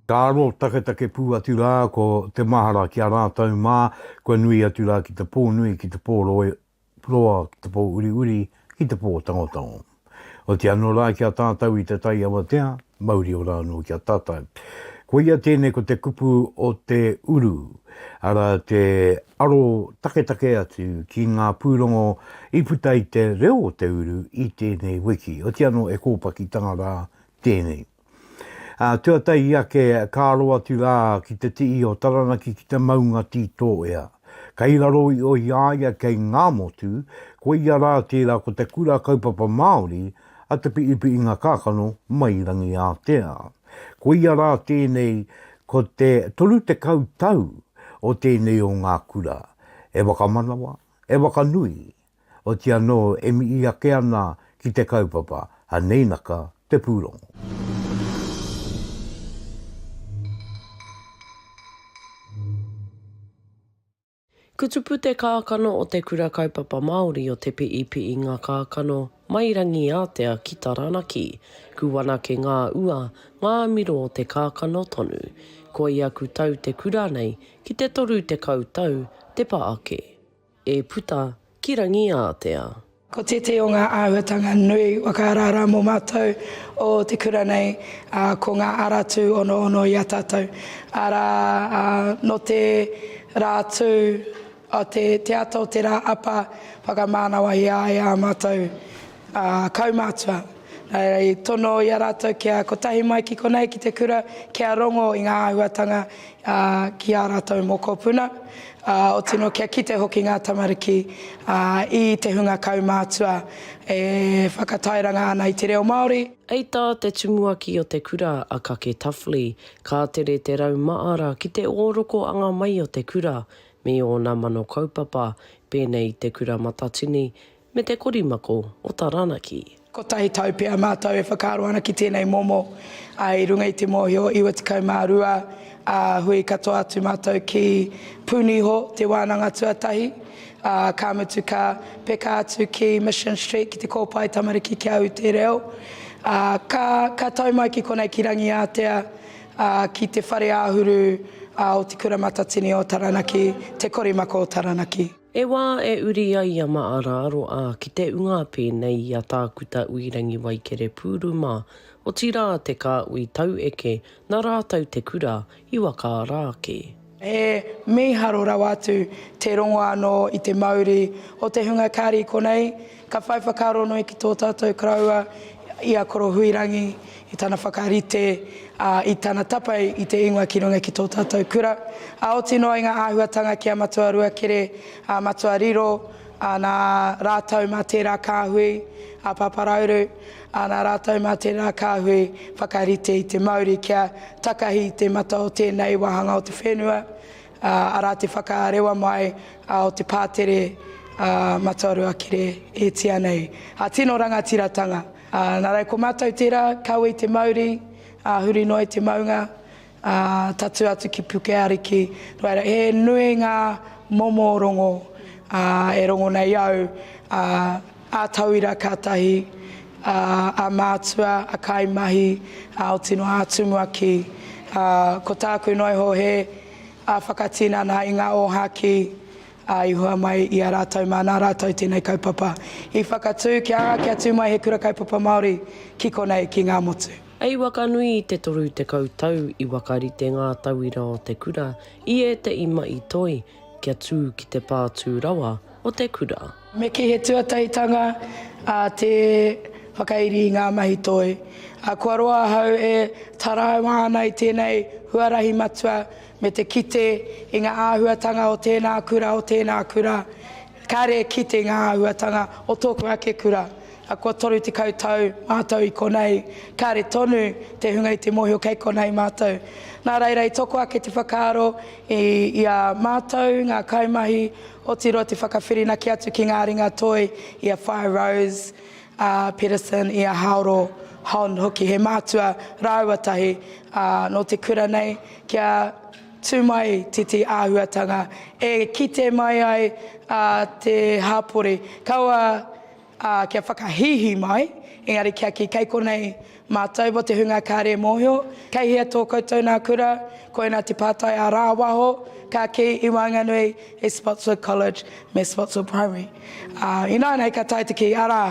Ka aro taketake pū atu rā ko te mahara ki a rātou mā, kua nui atu rā ki te pō nui, ki te pō roa, roa, ki te pō uriuri, ki te pō tangotango. Otiano rā ki a tātou i te tai awatea, Mauri ora anō ki a tātou. Koia tēnei ko te kupu o te uru, arā te aro taketake atu ki ngā pūrongo i puta i te reo o te uru i tēnei wiki. Oti anō e kōpakitanga rā tēnei. Ā, tuatahi ake ka aro atu rā ki te tihi o Taranaki ki te maunga Tītōea. Kei raro i Ohiāia kei Ngāmotu, koia rā tērā ko te Kura Kaupapa Māori a Te Piʻipiʻinga Kākano mai Rangiātea. Ko ia rā tēnei ko te 30 tau o tēnei o ngā kura e whakamanawa, e whakanui, oti anō e mihi ake ana ki te kaupapa a Neinaka te pūrongo. Kutupu te kākano o Te Kura Kaupapa Māori o Te Piipi'i ngā kākano mai Rangiātea ki Taranaki. Kuanake ngā ua, ngā miro o te kākano tonu. Koi aku tau te kura nei ki te toru tekau tau te pa ake. E puta ki Rangiātea. Ko tētehi o ngā āhuatanga nui whakaaraara mō mātou o te kura nei, ko ngā ara tū onoono i a tātou. Arā, nō te rā tū, te ata o te rā apa, whakamānawa i a ia ā mātou kaumātua. Nā reira i tono i a rātou kia kotahi mai ki konei, ki te kura, kia rongo i ngā āhuatanga ki ā rātou mokopuna, ā, otirā anō kia kite hoki ngā tamariki i te hunga kaumātua e whakatairanga ana i te reo Māori. Hei tā te tumuaki o te kura, a Kake Tuffley, ka tere te rau māra ki te ōroko anga mai o te kura me ōna mano kaupapa, pēnei i te Kura Matatini, Me te korimako o Taranaki. Kotahi tau pea mātou e whakaaro ana ki tēnei momo, ā, i runga i te mōhio 92 ā, hui katoa atu mātou ki Pūniho, te wānanga tuatahi, ā, ka mutu ka peka atu ki Mission Street ki te kōpae tamariki ki a au te reo, ā, ka, ka tau mai ki konei ki Rangiātea, ā, ki te whare āhuru, ā, o Te Kura Matatini o Taranaki, te korimako o Taranaki. He wā e uri ai a Maaraaro ā, ki te unga pēnei i a Tākuta Uirangi Waikere Pūruma, otirā te kāhui taueke nā rātou te kura i waka ara ake. He mīharo rawa atu te rongo anō i te mauri o te hunga kāri konei. Ka whai whakaaro nui ki tō tātou karaua, i a Koro Huirangi, i tana whakarite, ā, i tana tapae i te ingoa ki runga ki tō tātou kura. Ā, oti noa i ngā āhuatanga ki a Matua Ruakere, a Matua Riro, ā, nā rātou mā tērā kāhui, a Pāpā Rauru, ā, nā rātou mā tērā kāhui whakarite i te mauri kia takahi i te mata o tēnei wāhanga o te whenua, Arā te whakarewa mai o te pātere Matoarua Kere e tia nei. Tino rangatiratanga. Nā reira ko mātou tērā, kawe i te mauri, huri noa i te maunga, tatū atu ki Pukeariki. Nō reira, he nui ngā momo rongo e rongo nei au. a tauira ka tahi, a, a mātua, a kaimahi, a oti noa atu mua ki, a, ko tāku noa iho he, a, whakatinana i ngā ōhākī, a, i hua mai i a rātou mā nā rātou tēnei kaupapa i whakatū kia anga kia tū mai he Kura Kaupapa Māori ki konei, ki Ngāmotu. Hei waka nui i te toru tekau tau i whakarite ngā tauira o te kura i ētehi mahi toi kia tū ki te pā tū rawa o te kura. Me kī he tuataitanga a te whakairi i ngā mahi toi. Kua roa ahau e taraiwa ana i tēnei huarahi matua me te kite i ngā āhuatanga o tēnā kura, o tēnā kura, Kāre e kite ngā āhuatanga o tōku ake kura. A kua 30 tau mātou i konei, kāre tonu te hunga i te mōhio kei konei mātou. Nā reira i toko ake te whakaaro i a mātou ngā kaimahi, otirō te whakawhirinaki atu ki ngā ringa toi i a Whaea Rose, a Pedersen, i a Haoro, Hon, hoki he mātua rāua tahi nō te kura nei kia Tū mai tētahi āhuatanga e kite mai ai te hapori. Kaua kia whakahīhī mai, engari kia kī, kei konei mātou mō te hunga kāre e mōhio, kei hea tō koutou nā kura, koinā te pātai ā-rāwaho ka kī i waenganui i Spotswood College me Spotswood Primary. Ināianei ka tae te kī, arā!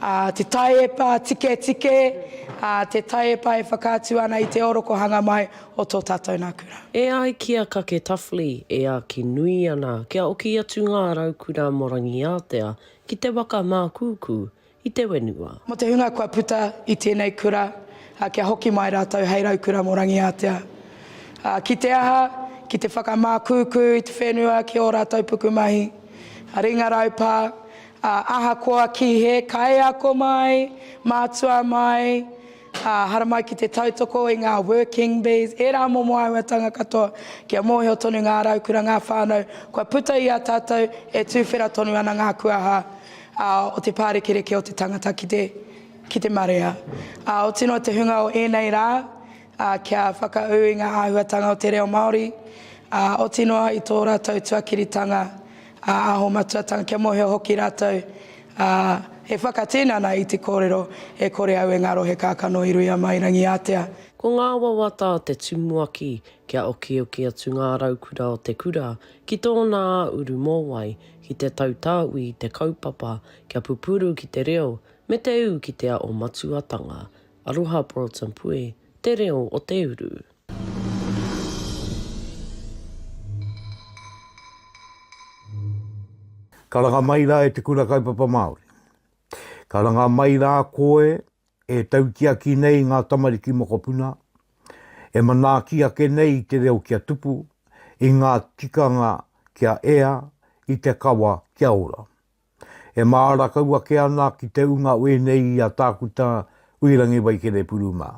ā, te taiepa tiketike, ā, te taiepa e whakaatu ana i te orokohanga mai o tō tātou nā kura. E ai ki a Kake Tafli, e āki nui ana kia oki atu ngā raukura mō Rangiātea ki te waka mākūkū i te whenua. Mō te hunga kua puta i tēnei kura, ā, kia hoki mai rātou hei raukura mō Rangiātea. Ā, ki te aha, ki te whakamākūkū i te whenua ki ō rātou pukumahi, ringa raupā, Ā, ahakoa kīhē kaiako mai, mātua mai, ā, haramai ki te tautoko i ngā working bees, ērā momo āhuatanga katoa, kia mōhio tonu ngā raukura, ngā whānau, kua puta i a tātou e tūwhera tonu ana ngā kuaha, ā, o te pārekereke o te tangata ki te, ki te marea. Ā, otirā te hunga o ēnei rā, ā, kia whakaū i ngā āhuatanga o te reo Māori, ā, oti noa i tō rātou tuakiritanga, ā, aho matuatanga, kia mōhio hoki rātou, ā, he whakatinana i te kōrero e kore au e ngaro he kākano i ruia mai Rangiātea. Ko ngā wawata a te tumuaki kia okioki atu ngā raukura o te kura ki tōna āuru mōwai, ki te tautāwī i te kaupapa kia pupuru ki te reo me te ū ki te aho matuatanga. Aroha Broughton Pue te reo o te uru. Karanga mai rā e te Kura Kaupapa Māori. Karanga mai rā koe e tautiaki nei ngā tamariki mokopuna, e manaaki ake nei i te reo kia tupu, i ngā tikanga kia ea, i te kawa kia ora. E māra kau ake ana ki te unga ue nei i a Tākuta Uirangi Waikere Puru mā.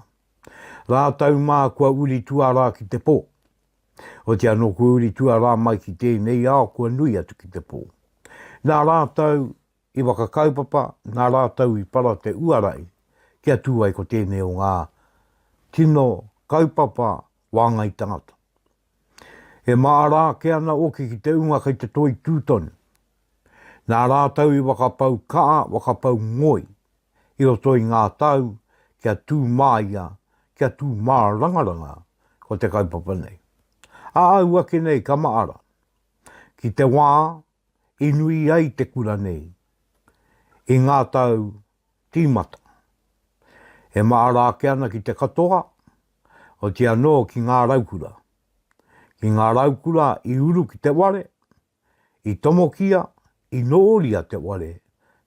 Rātou mā kua uri tuarā ki te pō. Oti anō kua uri tuarā mai ki tēnei ao kua nui atu ki te pō. Nā rātou i whakakaupapa, nā rātou i para te uarai kia tū ai ko tēnei o ngā tino kaupapa wāngai tangata. E māra ake ana oki ki te unga kei te toi tū tonu. Nā rātou i whakapau kaha, whakapau ngoi, i roto i ngā tau kia tū māia, kia tū mārangaranga ko te kaupapa nei. A au ake nei ka maara, ki te wā i nui ai te kura nei, i ngā tau Tīmata. E mahara ake ana ki te katoa, oti anō ki ngā raukura. Ki ngā raukura i uru ki te ware, i tomokia, i nōria te ware,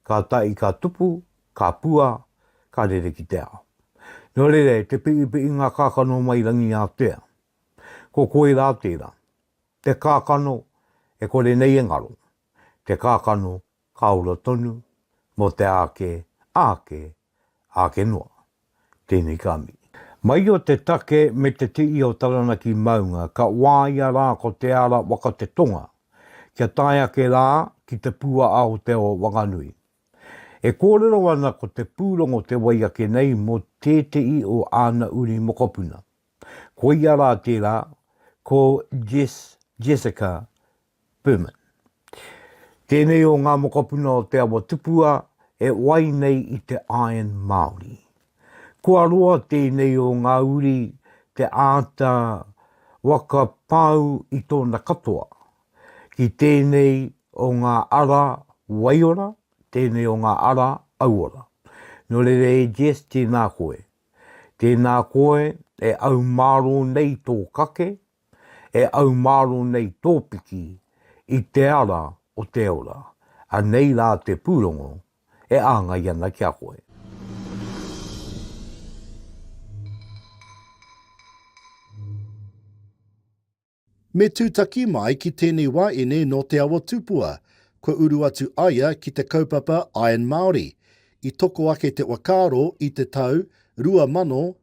ka tahi ka tupu, ka pua, ka rere ki te ao. Nō reira, e te piipiinga kakano mai Rangiātea, ko koe rā tērā, te kakano e kore nei e ngaro, te kakano Ka ora tonu, mō te āke, āke, āke noa. Tēnei ka mihi. Mai o te take me te tii o Taranaki maunga ka wāia rā ko Te Ara waka te tonga kia tae ake rā ki te pū a Aotearoa Whanganui. E kōrero ana ko te pūrongo te wai ake nei mō tētehi o āna uri mokopuna. Koia rā tērā ko Jess Jessica Berman. Tēnei o ngā mokopuna o Te Awa Tupua e wai nei i te iron Māori. Kua roa tēnei o ngā uri te āta waka pau i tōna katoa. Ki tēnei o ngā ara waiora, tēnei o ngā ara auora. Nō reira e Jess tēnā koe. Tēnā koe e au mārō nei tō kake, e aumāro nei tō piki i te ara o te ora, anei rā te pūrongo e āngai ana ki a koe. Me tūtaki mai ki tēnei waeine nō Te Awa Tupua, kua uru atu aia ki te kaupapa Iron Māori, i toko ake te whakaaro i te tau 2018.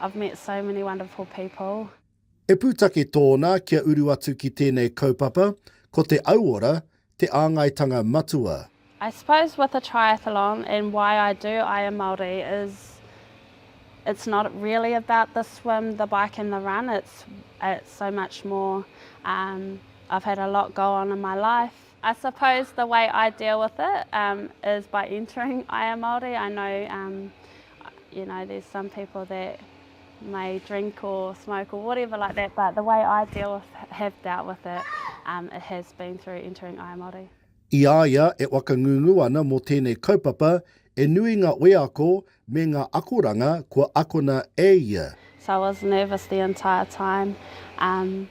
I've met so many wonderful people. He pūtake tōna kia uru atu ki tēnei kaupapa, ko te auora te āngaitanga matua. I suppose with a triathlon and why I do Aya Māori is it's not really about the swim, the bike and the run, it's it's so much more. Um, I've had a lot go on in my life. I suppose the way I deal with it um, is by entering Aya Māori. I know um, You know there's some people that may drink or smoke or whatever like that but the way I deal with, have dealt with it um, it has been through entering I Māori. I a ia e whakangungu ana mō tēnei kaupapa, e nui ngā wheako me ngā akoranga kua akona e ia. So I was nervous the entire time. Um,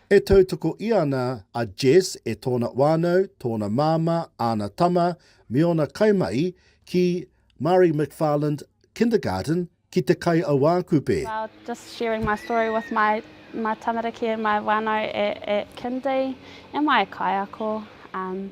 E tautoko ia ana a Jess e tōna whānau, tōna māmā, āna tama, me ōna kaimahi ki Marie McFarland Kindergarten ki Te Kaiauākupe. Well just sharing my story with my my tamariki and my whanau at at kindy am I a kaiako um.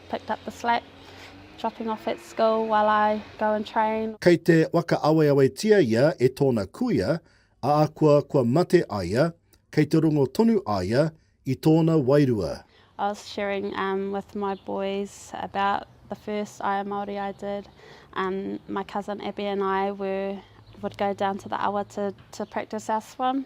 picked up the slack dropping off at school while I go and train. Kei te whakaaweawetia ia e tōna kuia, ahakoa kua mate a ia, kei te rongo tonu a ia i tōna wairua. I was sharing um, with my boys about the first Aia Māori I did. Um, my cousin Abby and I were, would go down to the awa to, to practice our swim.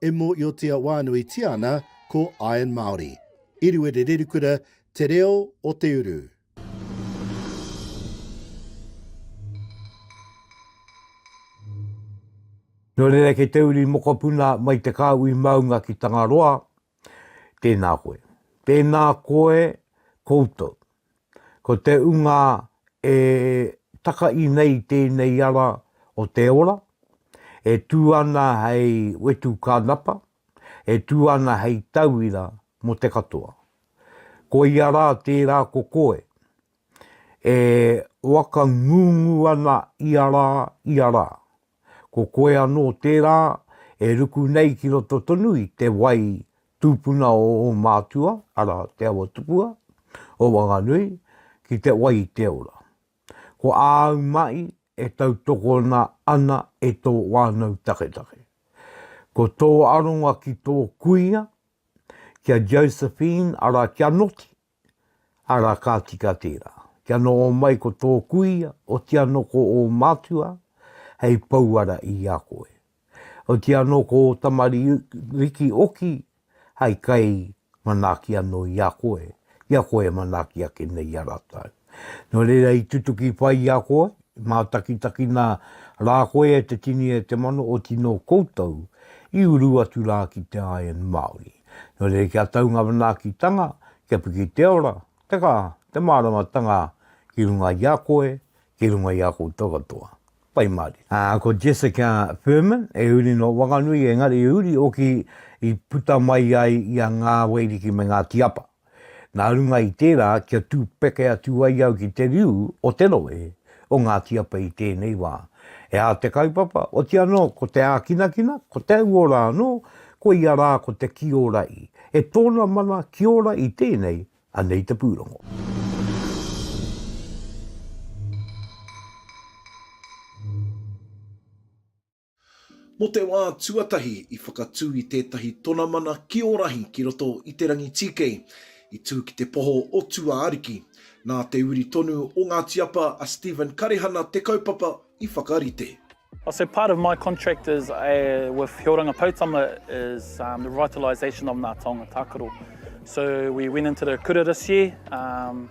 e mōiotia wānuitia ana ko Iron Māori. Iriwere Rerikura Te reo o te uru. Nō reira kei te uri mokopuna mai te kāhui maunga ki Tangaroa, tēnā koe. Tēnā koe koutou. Ko te ūnga e takai nei tēnei ara o te ora, e tū ana hei wetu kānapa, e tū ana hei tauira mō te katoa. Koia rā tērā ko koe, e whakangungu ana ia rā, ia rā. Ko koe anō tērā e ruku nei ki roto tonu i te wai Tūpuna o ō mātua, arā, Te Awa Tupua, o Wanganui, ki te wai i te ora. Ko āu mahi e tautokona ana e tō whānau taketake. Ko tō aronga ki tō kuia, ki a Josephine, arā, kia noti, ara ka tika tērā. Kia noho mai ko tō kuia, oti anō ko ō mātua hei pouara i a koe. Oti anō ko ō tamariki oki hai kai manaaki anō i a koe, i a koe e manaaki ake nei i a rātou. Nō reira i tutuki pai i a koe, i mātakitakina rā koe e te tini e te mano, oti nō koutou i uru atu rā ki te iron Māori. Nō reira kia tau ngā manaakitanga, kia piki te ora, te kaha, te māramatanga ki runga i a koe, ki runga i a koutou katoa. Pai mārire. Ā, ko Jessica Furman, e uri nō Whanganui, engari i uri hoki i puta mai ai i a Ngā Waiariki me Ngāti Apa. Nā runga i tērā kia tū peke atu ai au ki te riu o te rohe o Ngāti Apa i tēnei wā. E ā te kaupapa, oti anō ko te ākinakina, ko te auora anō, koia rā ko te kiora i, e tōna mana ki ora i tēnei, anei te pūrongo. Mō te wā tuatahi i whakatū i tētahi tonamana ki Orahi ki roto i Te Rangitīkei, i tū ki te poho o Tūāariki. Nā te uri tonu o ngā tiapa a Stephen Karehana te kaupapa i whakarite. Also part of my contract is a with Hioranga Poutama is um, the revitalisation of Ngā Taonga Tākaro. So we went into the kura this year um,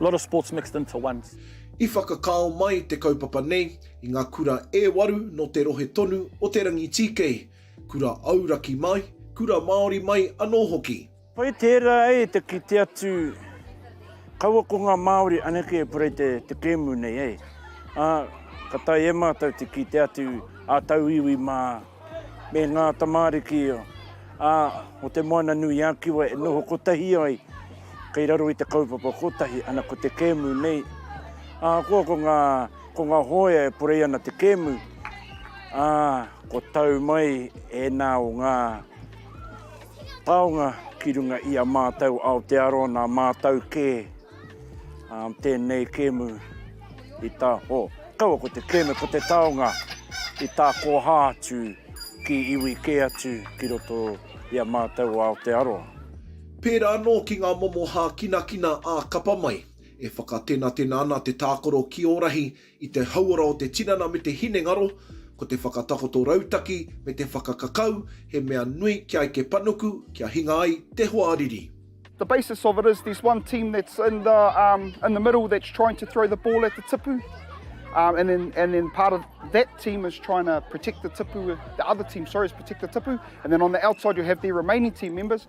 Lot of sports mixed into one. I whakakao mai te kaupapa nei i ngā kura e waru nō te rohe tonu o Te Rangitīkei, kura auraki mai, kura Māori mai anō hoki. Pai tērā ai te kite atu kaua ko ngā Māori anake e purei te kēmu nei, ā, ka taea e mātou te kite atu ā-tauiwi mā. me ngā tamāriki o Te Moana-nui-a-Kiwa e noho kotahi ai kei raro i te kaupapa kotahi, ana ko te kēmu nei. Ahakoa ko ngā, ko ngā hōia e porei ana te kēmu, ā, kua tau mai ēnā o ngā taonga ki runga i a mātou Aotearoa, nā mātou kē. Um, tēnei kēmu i tā, o, oh, kaua ko te kēmu, ko te taonga i tā kōhā atu ki iwi kē atu ki roto i a mātou o Aotearoa. Pērā anō ki ngā momo hākinakina ā-kapa mai, e whakatenatena ana te tākaro ki ō rahi I te hauora o te tinana me te hinengaro, ko te whakatakoto rautaki me te whakakakau he mea nui kia eke panuku, kia hinga ai te hoariri. The basis of it is there's one team that's in the um, in the middle that's trying to throw the ball at the tipu, um, and then and then part of that team is trying to protect the tipu. The other team, sorry, is protect the tipu, and then on the outside you have the remaining team members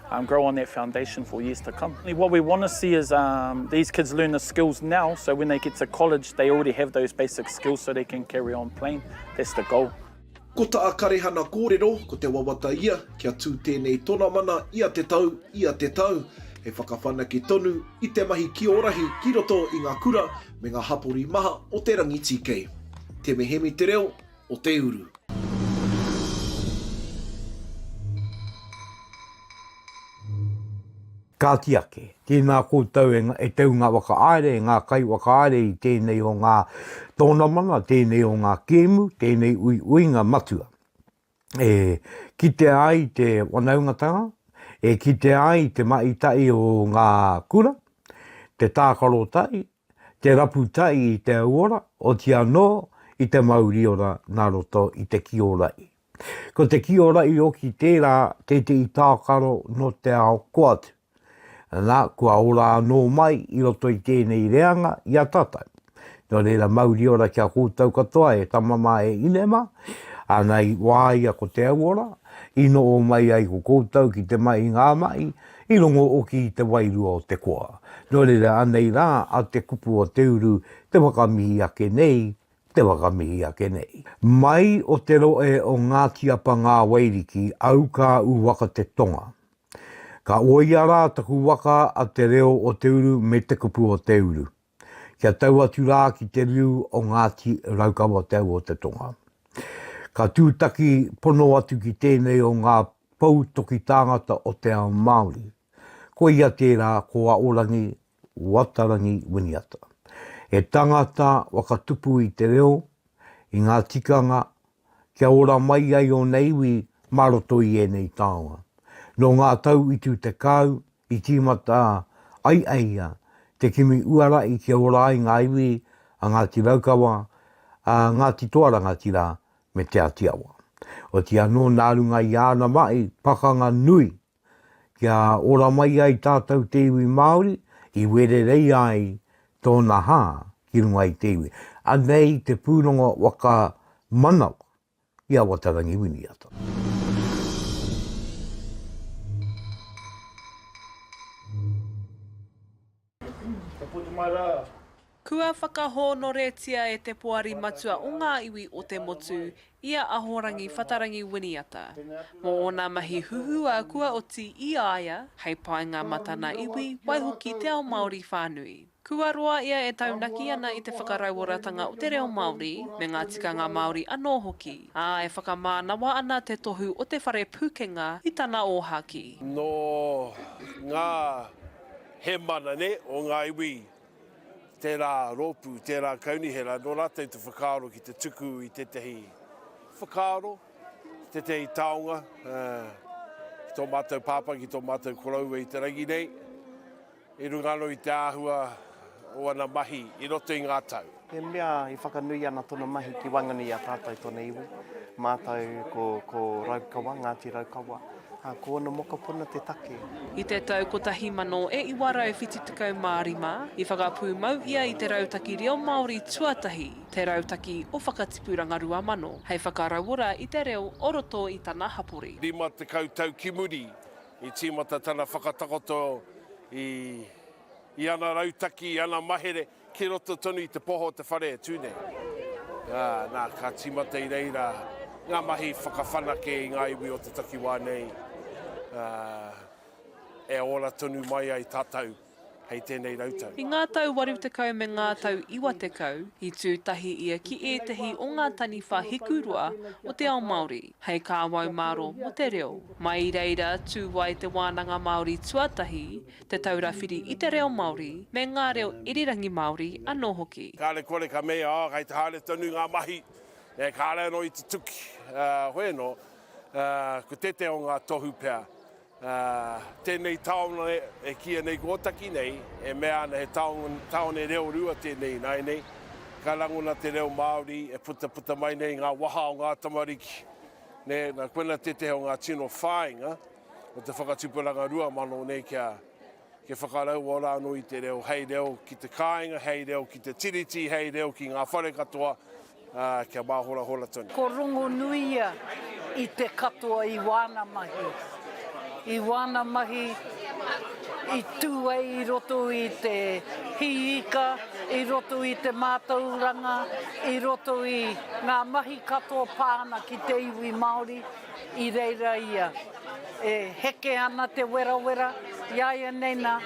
grow on that foundation for years to come. What we want to see is um, these kids learn the skills now, so when they get to college, they already have those basic skills so they can carry on playing. That's the goal. Ko ta Karehana kōrero, ko te wawata ia, kia tū tēnei tonamana ia te tau, ia te tau. He whakawhanake tonu i te mahi ki ō rahi ki roto i ngā kura me ngā hapori maha o te rangi tīkei. Te mehemi te reo, o te uru. Kāti ake, tēnā koutou e, e tau ngā whakaāere, e ngā kai whakaāere i tēnei o ngā tōnamana, tēnei o ngā kēmu, tēnei ui uinga matua. E kitea ai te wanaungatanga, e kitea ai te maitai o ngā kura, te tākaro tai, te rapu tai i te auora, oti anō i te mauriora nā roto i te kiorai. Ko te kiorai oki tērā tētehi tākaro nō te ao koatu. Nā, kua ora anō mai i roto i tēnei reanga i a tātou. Nō reira mauriora ki a koutou katoa e tama mā e ine mā, ana i wāia ko te auora, i noho mai ai ko koutou ki te mahi ngā mahi, I rongo oki i te wairua o te koa. No reira anei ra a te kupu o te uru te wakamihi ake nei, te wakamihi ake nei. Mai o te roe o Ngati Apa Ngawairiki au ka u waka te tonga. Ka oia ra taku waka a te reo o te uru me te kupu o te uru. kia tau atu rā ki te riu o Ngāti Raukawa Te Au o te Tonga. Ka tūtaki pono atu ki tēnei o ngā pou toki tāngata o te ao Māori. Ko ia tērā ko Aorangi Watarangi Winiata. He tangata whakatupu i te reo, i ngā tikanga kia ora mai ai ōna iwi mā roto i ēnei taonga. Nō ngā tau i tū tekau, i tīmata ai e ia te kimi uara i kia ora ai ngā iwi a Ngāti Raukawa, a Ngāti Toa Rangatira me Te Āti Awa. Otirā anō nā runga i āna mahi pakanga nui kia ora mai ai tātou te iwi Māori i wererei ai tōna hā ki runga i te iwi. Anei te pūrongo waka manawa ki a Watarangi Winiata. Kua whakahōnoretia e te Poari Matua o ngā Iwi o te Motu i a Ahorangi Whatarangi Winiata mō ōna mahi huhua kua oti i a ia hei painga mā tana iwi, waihoki te ao Māori whānui. Kua roa ia e taunaki ana i te whakarauoratanga o te reo Māori me ngā tikanga Māori anō hoki, ā, e whakamānawa ana te tohu o te Whare Pūkenga i tana ōhākī. Nō ngā. He mana ne, o nga iwi tera ropu, tera kaunihera, no ratou te whakaaro ki te tuku i tetahi whakaaro, tetahi taonga ki to matou papa, ki to matou koroua i te rangi nei, i runga ano i te ahua o ana mahi i roto i nga tau. He mea i whakanui ana tona mahi ki waenganui i a tatou tona iwi. Matou ko, ko Raukawa, Ngati Raukawa, a, ko ona mokopuna te take. I te tau 1975, i whakapūmau ia i te Rautaki Reo Māori tuatahi, Te Rautaki o Whakatipuranga Rua Mano, hei whakarauora i te reo o roto i tana hapori. 50 tau ki muri, i tīmata tana whakatakoto i, i ana rautaki, i ana mahere. Ki roto tonu i te poho o te whare e tū nei. Ā, nā, ka tīmata i reira ngā mahi whakawhanake i ngā iwi o te takiwā nei, ā, e ora tonu mai ai tātou hei tēnei rautau. I ngā tau waru tekau me ngā tau iwa tekau, i tū tahi ia ki ētehi o ngā taniwha hikuroa o te ao Māori, hei kāwau māro mō te reo. Mai i reira, tū ai te Wānanga Māori tuatahi, Te Taura Whiri i te Reo Māori me ngā reo irirangi Māori anō hoki. Kāre kore ka mei, oh, kei te haere tonu ngā mahi, e, kāre anō i te tuki, ā, hoi anō, ā, ko tētahi o ngā tohu pea, ā, tēnei taone e kīia nei ko Ōtaki nei, e mea ana he taone, taone reo rua tēnei ināianei, ka rangona te reo Māori e putaputa mai nei i ngā waha o ngā tamariki, nē, nā, koina tētahi o ngā tino whāinga. o te whakatipuranga rua mano nei kia kia whakaraua rānō i te reo, hei reo ki te kāinga, hei reo ki te tiriti, hei reo ki ngā whare katoa, ā, kia māhorahora tonu. Ko Rongonuia i te katoa i wāna mahi, i wāna mahi i tū ai i roto i te hī ika, i roto i te mātauranga, i roto i ngā mahi katoa pā ana ki te iwi Māori. I reira ia, e heke ana te werawera, iaianei na,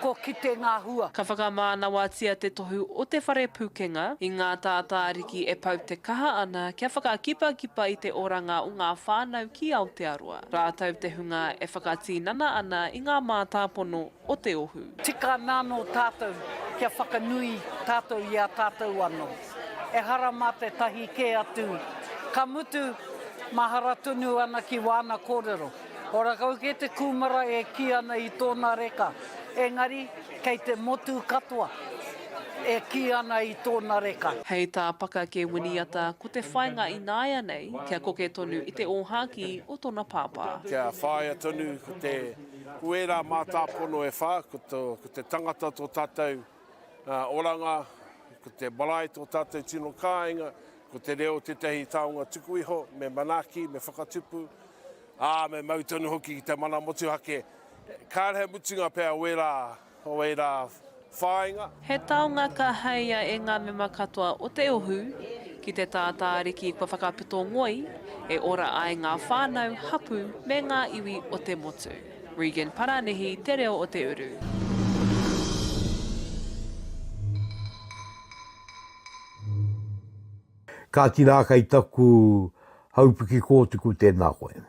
ko kite nga hua. Ka whakamānawatia te tohu o te whare pukenga i ngā tātāriki e pau te kaha ana kia whakakipakipa i te oranga o ngā whānau ki Aotearoa, rātou te hunga e whakatīnana ana i ngā mātāpono o te ohu. Tika ana anō tātou kia whakanui tātou i a tātou anō. Ehara mā tētahi kē atu, ka mutu, mahara tonu ana ki wāna kōrero. Ora kau kē te kūmara e kī ana i tōna reka, engari kei te motu katoa e kī ana i tōna reka. Hei tā Paka kē Winiata, ko te whainga ināianei kia koke tonu i te ōhākī o tona pāpā. Kia whāia tonu ko te. Ko ērā mātāpono e whā, ko te tangata tō tātou oranga, ko te marae tō tātou tino kāinga, ko te reo tētahi taonga tuku iho, me manaaki, me whakatupu, ā, me mau tonu hoki ki te mana motuhake. Kāre he mutunga pea o ērā Nō ērā whāinga. He taonga ka haea e ngā mema katoa o te ohu ki te tātāriki kua whakapito ngoi e ora ai ngā whānau, hapū me ngā iwi o te motu. Regan Parānihi, Te Reo o Te Uru. Ka tinā kei taku haupuki kōtuku tēnā koe.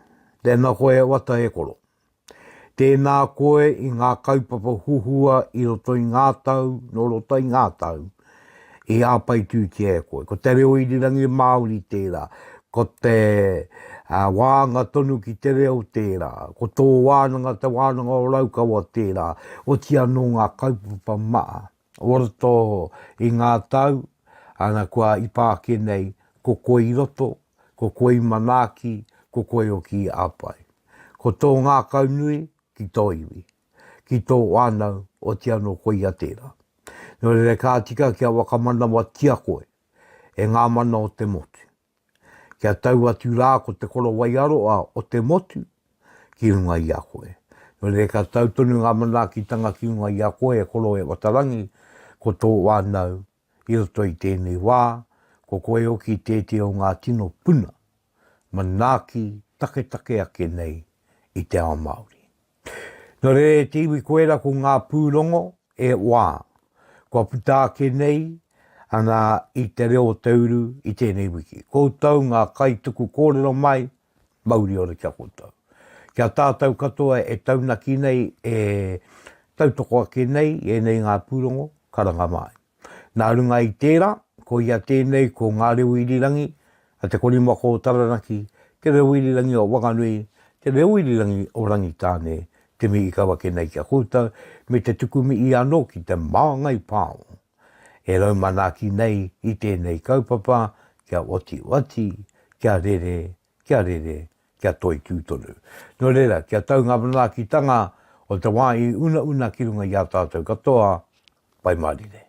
Tēnā koe e Wata e koro. Tēnā koe i ngā kaupapa huhua i roto i ngā tau, nō roto i ngā tau, i āpaitūtia e koe. Ko te reo irirangi Māori tērā, ko te wāanga tonu ki te reo tērā, ko tō wānanga te wānanga o Raukawa tērā, oti anō ngā kaupapa maha. Waratō i ngā tau, ana kua ipa ake nei, ko koe i roto, ko koe i manaaki, ko koe hoki i apai. Ko tō ngākau nui ki tō iwi, ki tō whānau, oti anō koia tērā. Nō reira ka tika kia whakamanawatia koe e ngā mana o te motu. kia tau atu rā ko te korowai aroa o te motu ki runga i a koe. Nō reira ka tau tonu ngā manaakitanga ki runga i a koe e Koroe Watarangi, ko tō whānau i roto i tēnei wā, ko koe hoki tētehi o ngā tino puna manaaki taketake ake nei i te ao Māori. Nō reira e te iwi koera ko ngā pūrongo e wā kua puta ake nei ana i te reo o te uru i tēnei wiki. Koutou ngā kaituku kōrero mai, mauri ora ki a koutou. Ki a tātou katoa e taunaki nei e tautoko ake nei i ēnei ngā pūrongo, karanga mai. Nā runga i tērā, koia tēnei ko Ngā Reo Irirangi a Te Korimako o Taranaki, Te Reo Irirangi o Wanganui, Te Reo Irirangi o Rangitāne, te mihi ka wake nei ki a koutou, me te tuku mihi anō ki te māngai pao e rau manaaki nei i tēnei kaupapa kia otioti, kia rere kia rere, kia toitū tonu. Nō reira, kia tau ngā manaakitanga o te wā i unauna ki runga i a tātou katoa, Pai Mārire.